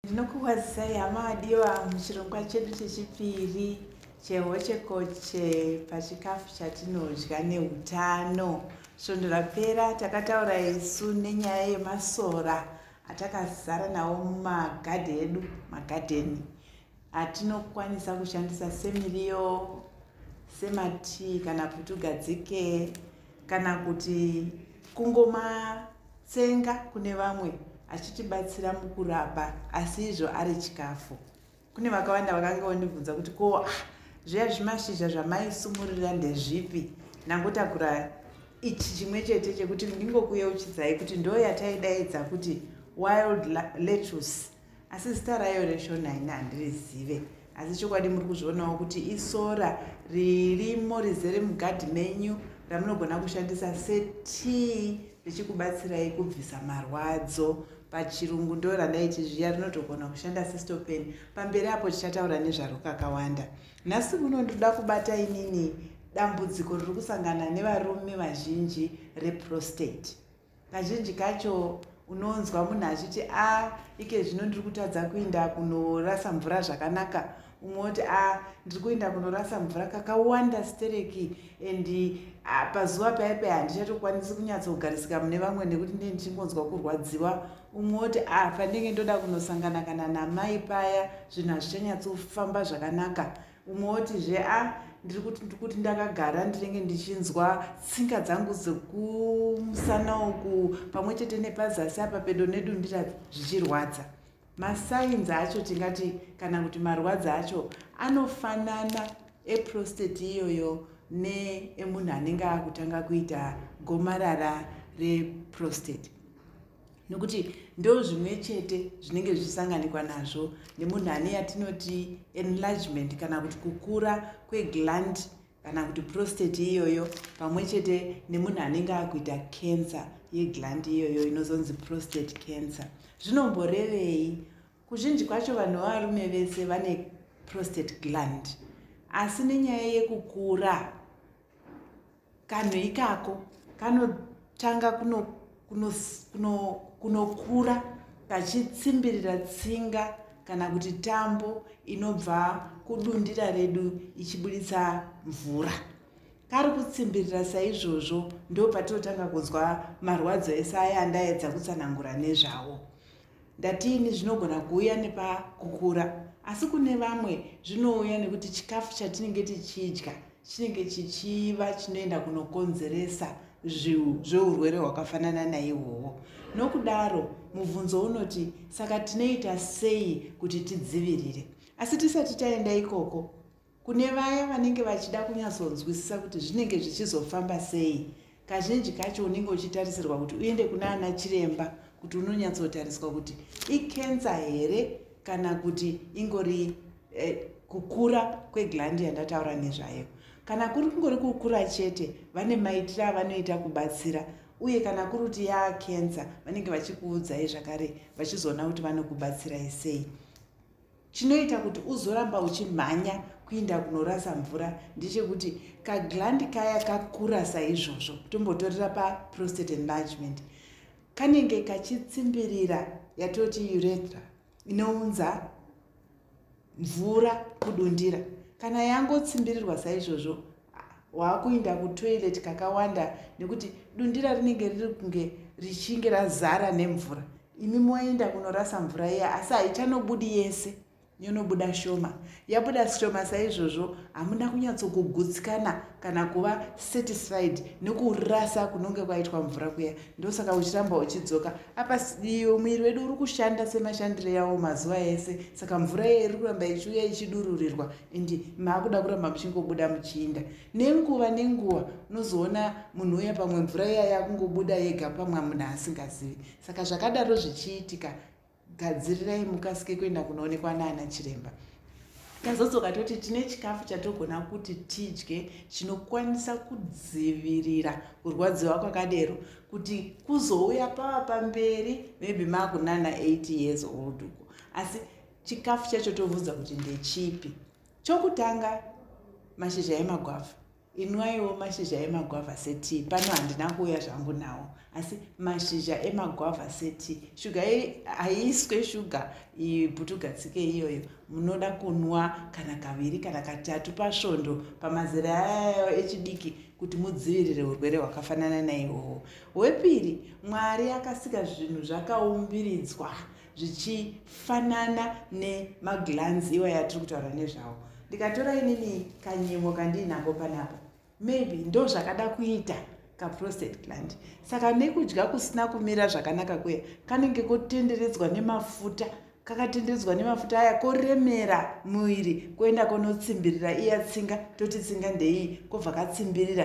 ndinokukwazisai hama vadiwa muchirongwa chedu chechipiri chehochekoche pachikafu chatinodya neutano svondo rapera takataura isu nenyaya yemasora atakazara nawo mumagadhi edu magadheni atinokwanisa kushandisa semiriyo sematii kana kuti ugadzike kana kuti kungomatsenga kune vamwe achitibatsira mukurapa asi izvo ari chikafu kune vakawanda vakanga vandibvunza kuti ko ah, zviya zvimashizha zvamaisumurira ndezvipi ndangotakura ichi chimwe chete chekuti ndingokuyeuchidzai kuti ndo yataidaidza kuti wild lettuce asi zita rayo reshona ini handirizive asi chokwadi muri kuzvionawo kuti isora ririmo rizere mugadhi menyu ramunogona kushandisa setii richikubatsirai kubvisa marwadzo pachirungu ndo randaiti zviya rinotogona kushanda sistopen pamberi apo tichataura nezvaro kakawanda nhasi kuno ndoda kubata inini dambudziko riri kusangana nevarume vazhinji reprostate kazhinji kacho unonzwa munhu achiti a ah, ike zvino ndiri kutadza kuinda kunorasa mvura zvakanaka umwe woti a ah, ndiri kuinda kunorasa mvura kakawanda stereki and ah, pazuva paye paye handichatokwanisi kunyatsogarisika mune vamwe nekuti ndee ndichingonzwa kurwadziwa umwe woti a pandenge ndoda kunosangana kana namai paya zvinhu hazvichanyatsofamba zvakanaka umwe woti zve a ndiri kuti ndikuti ndakagara ndinenge ndichinzwa tsinga dzangu dzekumusana uku pamwe chete nepazasi apa pedo nedundira zvichirwadza masainzi acho tingati kana kuti marwadzi acho anofanana eprosteti iyoyo neemunhu anenge akutanga kuita gomarara reprosteti nokuti ndo zvimwe chete zvinenge zvichisanganikwa nazvo nemunhu ane yatinoti enlargement kana kuti kukura kwegland kana kuti prostate iyoyo pamwe chete nemunhu anenge akuita cancer yegland iyoyo inozonzi prostate cancer zvinomborevei kuzhinji kwacho vanhu vavarume vese vane prostate gland asi nenyaya yekukura kanhu ikako kanotanga kunokura kachitsimbirira tsinga kana kuti tambo inobva kudundira redu ichibuditsa mvura kari kutsimbirira saizvozvo ndopatinotanga kunzwa marwadzo ese aya andaedza kutsanangura nezvawo Ndati ini zvinogona kuuya nepakukura asi kune vamwe zvinouya nekuti chikafu chatinenge tichidya chinenge chichiva chinoenda kunokonzeresa zveurwere hwakafanana naihwohwo nokudaro mubvunzo unoti saka tinoita sei kuti tidzivirire asi tisati taenda ikoko Kune vaya vanenge vachida kunyatsonzwisisa kuti zvinenge zvichizofamba sei, kazhinji kacho unenge uchitarisirwa kuti uende kuna ana chiremba kuti unonyatsotariswa kuti ikensa here kana kuti ingori eh, kukura kweglandi yandataura nezvayo. Kana kuri kungori kukura chete, vane maitiro avanoita kubatsira uye kana kuri kuti yaa kensa vanenge vachikuudzai zvakare vachizoona kuti vanokubatsirai sei. chinoita kuti uzoramba uchimhanya kuinda kunorasa mvura ndechekuti kaglandi kaya kakura saizvozvo tombotorera paprostate enlargement kanenge kachitsimbirira yatoti urethra inounza mvura kudundira kana yangotsimbirirwa saizvozvo waakuinda kutoilet kakawanda nekuti dundira rinenge riri kunge richinge razara nemvura imi moenda kunorasa mvura iya asi haichanobudi yese yonobuda shoma yabuda shoma saizvozvo hamuna kunyatsokugutsikana kana kuva satisfied nekurasa kunonge kwaitwa mvura kuya ndosaka uchiramba uchidzoka apa muviri wedu uri kushanda semashandiro yawo mazuva ese saka mvura iye iri kuramba ichiuya ichidururirwa ende maakuda kuramba muchingobuda muchiinda nenguva nenguva unozoona munhu uya pamwe mvura iya yakungobuda yega pamwe munhu asingazivi saka zvakadaro zvichiitika gadzirirai mukasike kuenda kunoonekwa naana chiremba tazodzoka toti tine chikafu chatogona kuti tidye chinokwanisa kudzivirira kurwadziwa kwakadero kuti kuzouya pava pamberi maybe maakunana 8 years old uko asi chikafu chacho tobvunza kuti ndechipi chokutanga mashizha emagwavha inwaiwo mashizha emagwavha setii pano handina kuuya zvangu nawo asi mashizha emagwavha setii shuga haiiswe shuga iputugatsike iyoyo munoda kunwa kana kaviri kana katatu pasvondo pamazera ayayo echidiki kuti mudzivirire urwere hwakafanana naihoho hwepiri mwari akasika zvinhu zvakaumbiridzwa zvichifanana nemaglands iwa yatiri kutaura nezvawo ndikatora inini kanyimo kandiinako panapa maybe ndo zvakada kuita kaprostate gland saka nekudya kusina kumira zvakanaka kuya kanenge kotenderedzwa nemafuta kakatenderedzwa nemafuta aya koremera muviri koenda konotsimbirira iya tsinga toti tsinga ndeiyi kobva katsimbirira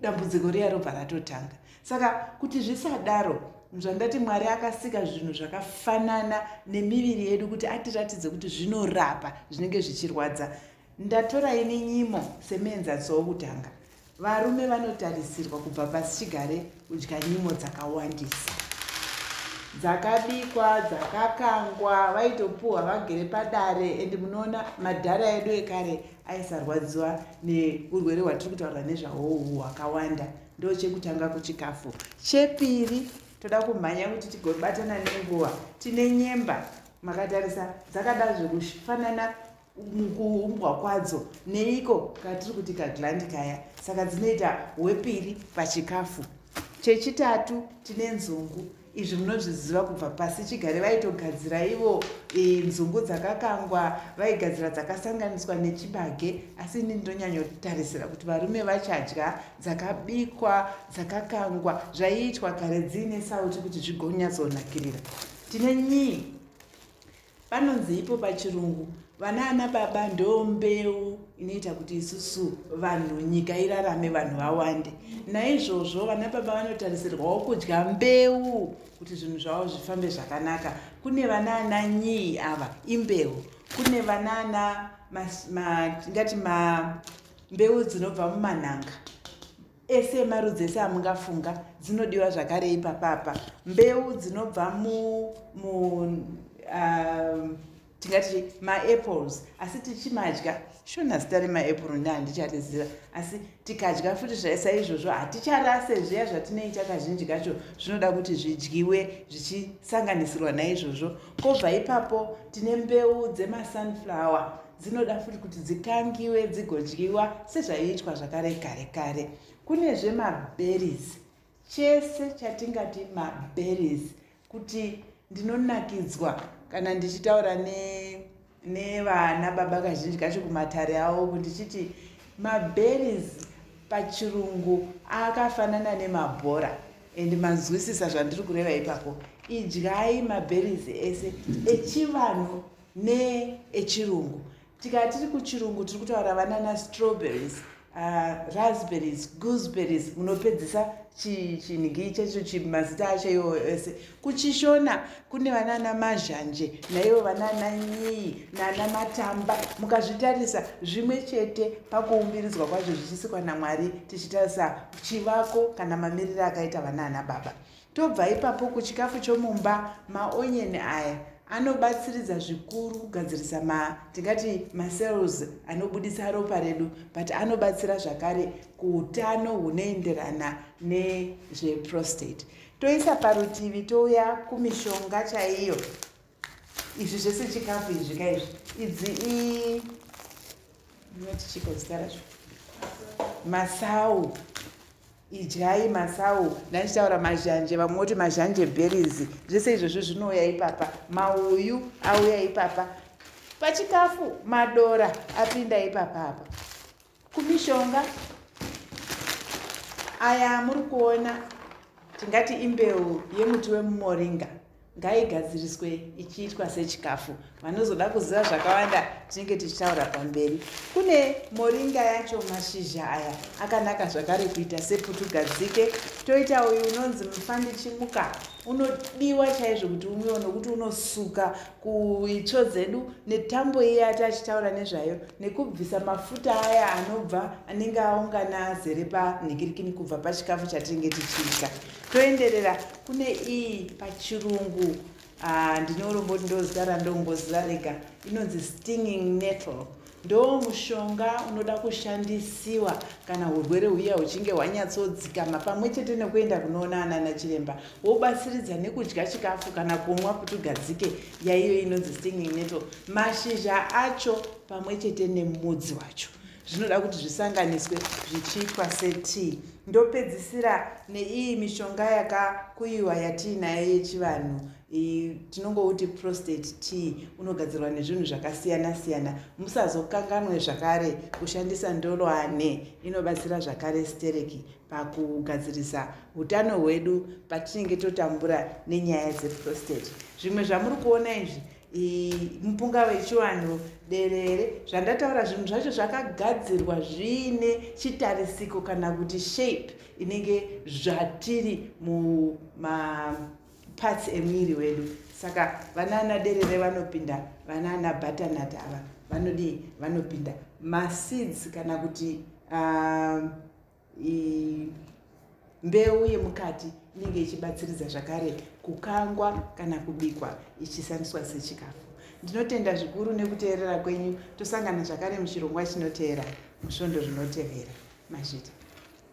dambudziko riya robva ratotanga saka kuti zvisadaro zvandati mwari akasika zvinhu zvakafanana nemiviri yedu kuti atiratidze kuti zvinorapa zvinenge zvichirwadza ndatora ini nyimo semuenzaniso wokutanga varume vanotarisirwa kubva pasi chigare kudya nyimo dzakawandisa dzakabikwa dzakakangwa vaitopuhwa vagere padare and munoona madhara edu ekare aisarwadziwa neurwere hwatiri kutaura nezvahwohu hwakawanda ndochekutanga kuchikafu chepiri toda kumhanya kuti tigobatana nenguva tine nyemba makatarisa dzakada zvekufanana mukuumbwa kwadzo neiko katiri kuti kaglandi kaya saka dzinoita hwepiri pachikafu chechitatu tine nzungu izvi munozviziva kubva pasi chigare vaitogadzira ivo e, nzungu dzakakangwa vaigadzira dzakasanganiswa nechibage asi ini ndinonyanyotarisira kuti varume vachadya dzakabikwa dzakakangwa zvaiitwa kare dziine sauti kuti zvigonyatsonakirira tine nyii Panonziipo pachirungu vana ana baba ndo mbeu inoita kuti isusu vanhu nyika irarame vanhu vawande naizvozvo vana baba vanotarisirwawo kudya mbeu kuti zvinhu zvavo zvifambe zvakanaka kune vana ana nyii ava imbeu kune vana ana tingati ma, ma, mbeu dzinobva mumanhanga ese emarudzi ese amungafunga dzinodiwa zvakarei papapa mbeu dzinobva mu, mu um, tingati maapples asi tichimadya shona zita remaapple nda handichariziva asi tikadya futi saizvozvo haticharase zviya zvatinoita kazhinji kacho zvinoda kuti zvidyiwe zvichisanganisirwa naizvozvo kobva ipapo tine mbeu dzemasunflower dzinoda futi kuti dzikangiwe dzigodyiwa sezvaiitwa zvakare kare kare kunezve maberries chese chatingati maberries kuti ndinonakidzwa kana ndichitaura nevana ne baba kazhinji kacho kumatare avo ndichiti maberries pachirungu akafanana nemabhora and manzwisisa zvandiri kureva ipapo idyai maberries ese echivanhu neechirungu tikati tiri kuchirungu tiri kutaura vana na strawberries uh, raspberries gooseberries munopedzisa chinhigii chaicho chimazita acho iwo ese kuchishona kune vanana mazhanje naivo vanana nyii nana matamba mukazvitarisa zvimwe chete pakuumbiridzwa kwazvo zvichisikwa namwari tichitarisa chivako kana mamiriro akaita vanana baba Tobva ipapo kuchikafu chomumba, maonyeni aya anobatsiridza zvikuru kugadzirisa ma tingati macells anobudisa ropa redu but anobatsira zvakare kuutano hunoenderana nezveprostate toisa parutivi touya kumishonga chaiyo izvi zvese chikafu izvi ka izvi idzi i inoti chiko zita racho masau idyai masau ndaichitaura mazhanje vamwe voti mazhanje berries zvese izvozvo zvinouya ipapa mauyu auya ipapa pachikafu madora apinda ipapa apa kumishonga aya muri kuona tingati imbeu yemuti wemumoringa ngaigadziriswe ichiitwa sechikafu vanozoda kuziva zvakawanda tinenge tichitaura pamberi kune moringa yacho mashizha aya akanaka zvakare kuita seputugadzike toita uyu unonzi mufandichimuka unodiwa chaizvo kuti umwiwa nokuti unosuka kuitsvo dzedu netambo iye ati achitaura nezvayo nekubvisa mafuta aya anobva anenge aungana azere panhikirikini kubva pachikafu chatinenge tichiita toenderera kune iyi pachirungu ah, ndine urombo kuti ndozita randongoziva rega inonzi stinging nettle Ndoo mushonga unoda kushandisiwa kana hurwere huya huchinge hwanyatsodzikama pamwe chete nekuenda kunoona anana chiremba wobatsiridza nekudya chikafu kana kumwa kuti ugadzike yaiyo inonzi stinging nettle mashizha acho pamwe chete nemudzi wacho zvinoda kuti zvisanganiswe zvichiitwa setii ndopedzisira neiyi mishonga yakakuyiwa yatiinayo yechivanhu tinongouti prostate tea unogadzirwa nezvinhu zvakasiyana siyana musazokanganwe zvakare kushandisa ndoloane inobatsira zvakare stereki pakugadzirisa utano hwedu patinenge totambura nenyaya dzeprostate zvimwe zvamuri kuona izvi mupunga wechivanhu derere zvandataura zvinhu zvacho zvakagadzirwa zviine chitarisiko kana kuti shape inenge zvatiri muma parts emwiri wedu saka vanaana derere vanopinda vanaana butternutt ava vanodii vanopinda maseeds kana kuti um, mbeu yemukati inenge ichibatsiridza zvakare kukangwa kana kubikwa ichisandiswa sechikafu ndinotenda zvikuru nekuteerera kwenyu tosangana zvakare muchirongwa chinoteera musvondo zvinotevera mazvita